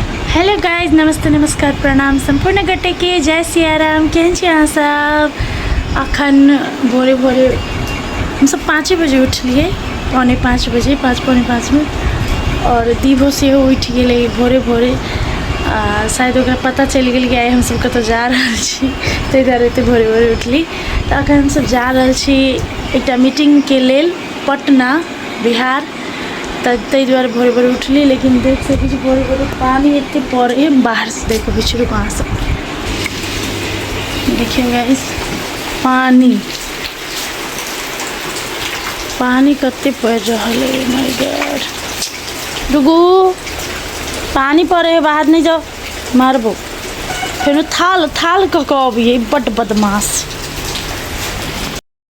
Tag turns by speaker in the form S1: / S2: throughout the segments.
S1: Hello guys नमस्ते नमस्कार प्रणाम सम्पूर्ण गटेके जय सियाराम केहन छी अहाँ सब अखन भोरे भोरे हमसब पाँचे बजे उठलिए पौने पाँच बजे पाँच पौने पाँचमे आओर दीभो सेहो उठि गेलै भोरे भोरे आ शायद ओकरा पता चलि गेल कि आइ हमसब कतऽ जा रहल छी ताहि दुआरे एतेक भोरे भोरे उठली तऽ अखन हमसब जा रहल छी एकटा मीटिङ्गके लेल पटना बिहार तऽ ताहि दुआरे भोरे भोरे उठली लेकिन देख सकैत छी भोरे भोरे पानि एते पड़े बाहरसँ देख अबै छी रुकु अहाँ सबके देखियौ गाइस पानि पानि कते पड़ि रहल है माय गॉड रुकु पानि पड़े है बाहर नहि जाओ मारबो फेर थाल थाल कऽ कऽ अबियै बड्ड बदमाश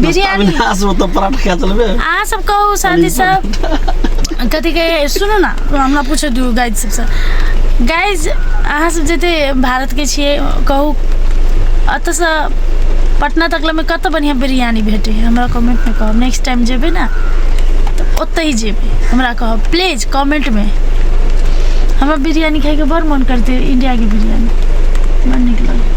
S1: बिरयानी अविनाश वो तो
S2: पराठा खा चलबे अहाँ सब कहू
S1: शादी सब कथी कहे सुनू ना हमरा पूछे दियौ गाइज सबसँ गाइज अहाँ सब जते भारतके छियै कहू एतऽसँ पटना तकलेमे कतऽ बढ़िआँ बिरयानी भेटै है हमरा कमेंटमे कहब नेक्स्ट टाइम जेबै ने तऽ ओतहि जेबै हमरा कहब प्लीज कमेंटमे हमरा बिरयानी खाइके बड़ मन करतै इंडियाके बिरयानी बड़ नीक लगै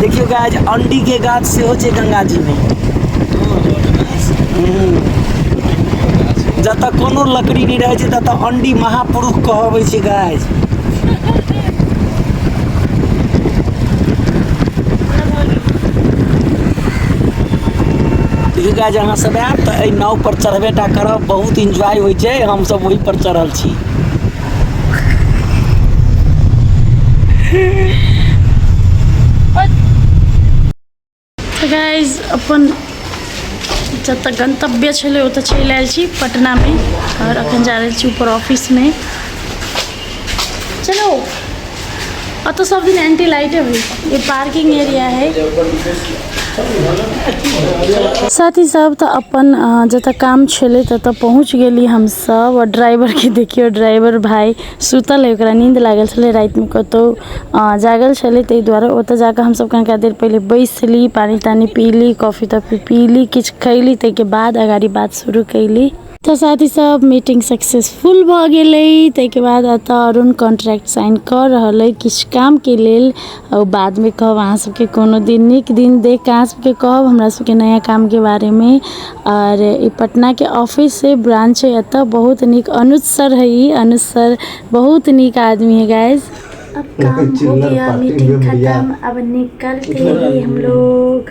S2: देखियो गाइज अंडी के गाछ सेहो छै गंगा जी में जतऽ कोनो लकड़ी नहि रहै छै ततऽ अंडी महापुरुष कहबै छै गाइज देखियो गाइज अहाँ सब आयब तऽ एहि नाव पर चढ़बे टा करब बहुत इंजॉय होइ छै हमसब ओहि पर चढ़ल छी
S1: गाइज अपन जतऽ गंतव्य छलै ओतऽ चलि आयल छी पटनामे आओर अखन जा रहल छी ऊपर ऑफिसमे चलो अतऽ सब दिन एंटी लाइटे होइ ई पार्किंग एरिया है साथी सब तऽ अपन जतऽ काम छलै ततऽ पहुँच गेली हमसब आओर ड्राइवरके देखियौ ड्राइवर भाय सुतल अइ ओकरा नीन्द लागल छलै रातिमे कतौ जागल छलै तै दुआरे ओतऽ जाकऽ हमसब कनिका देर पहिले बैसली पानि तानि पीली कॉफी तॉफी पीली किछु खैली तैके बाद अगाड़ी बात शुरू कयली तऽ साथी सब मीटिंग सक्सेसफुल भऽ गेलै ताहिके बाद एतऽ अरुण कॉन्ट्रैक्ट साइन कऽ रहल अइ किछु कामके लेल आओर बादमे कहब अहाँ सबके कोनो दिन नीक दिन देख कऽ अहाँ सबके कहब हमरा सबके नया कामके बारेमे आओर ई पटनाके ऑफिस छै ब्रांच छै एतऽ बहुत नीक अनुज सर है ई अनुज सर बहुत नीक आदमी है गाइस अब काम हो चिल्लर गया पार्टी मीटिंग में भैया। खत्म अब निकलते हैं हम लोग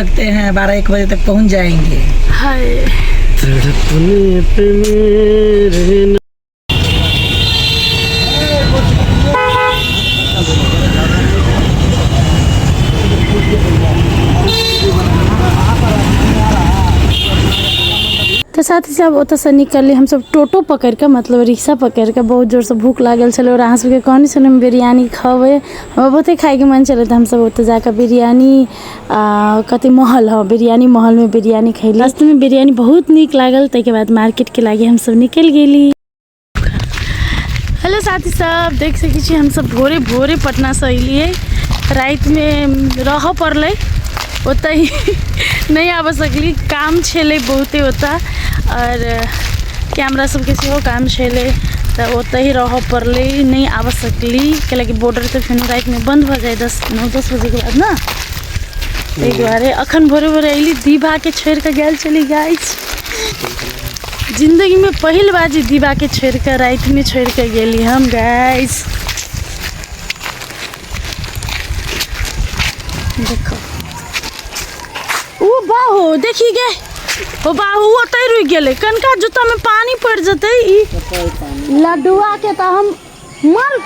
S1: लगते
S3: हैं बारह एक बजे तक पहुंच जाएंगे
S1: तो साथ ही सब ओत से निकलली हम सब टोटो पकड़ के मतलब रिक्शा पकड़ के बहुत जोर से भूख लागल छल और अहाँ सबके कहनी छल हम बिरयानी खबै हमरा बहुते खाएके मन छलै तऽ हमसब ओतऽ जाकऽ बिरयानी आ कथी महल हँ बिरयानी महलमे बिरयानी खैली रास्तेमे बिरयानी बहुत नीक लागल ताहिके बाद मार्केटके लागि हमसभ निकलि गेली हेलो साथी सब देख सकै छी हमसभ भोरे भोरे पटनासँ अयलियै रातिमे रहऽ पड़लै ओतहि नहि आबऽ सकली काम छलै बहुते ओतऽ आओर कैमरा सबके सेहो काम छलै तऽ ओतहि रहऽ पड़लै नहि आबऽ सकली कैलाकि बॉर्डर तऽ फेनो रातिमे बन्द भऽ जाइ दस नौ दस बजे के बाद ना ताहि दुआरे अखन भोरे भोरे अयली दीबा के छोड़ि कऽ गेल छली गाय जिंदगी में पहिल बार जे दीबा के छोड़ि कऽ राति में छोड़ि कऽ गेली हम गाय देखो ओ बाहो देखी गे ओ बाहू ओतै रुकि गेलै कनका जूता में पानी पड़ि जेतै ई लड्डुआ के तऽ हम मर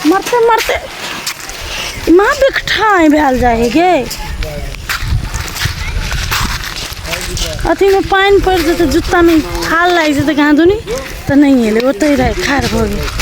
S1: मरते मरते ना बिकठाइ भेल जाइ है गे अथीमे पानि पड़ि जेतै जुत्तामे थाल लागि जेतै कहाँ दुनी तऽ नहि एलै ओतहि रहै ठाढ़ भऽ गेल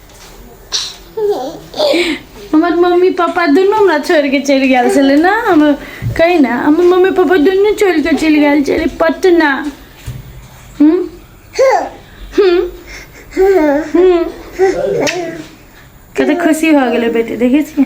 S1: हमर मम्मी पापा दुनू हमरा छोड़ि कऽ चलि गेल छलै ने हम कही ने हमर मम्मी पापा दुनू छोड़ि कऽ चलि गेल छलै पटना हूँ हूँ हूँ कतेक खुशी भऽ गेलै बेटी देखै छियै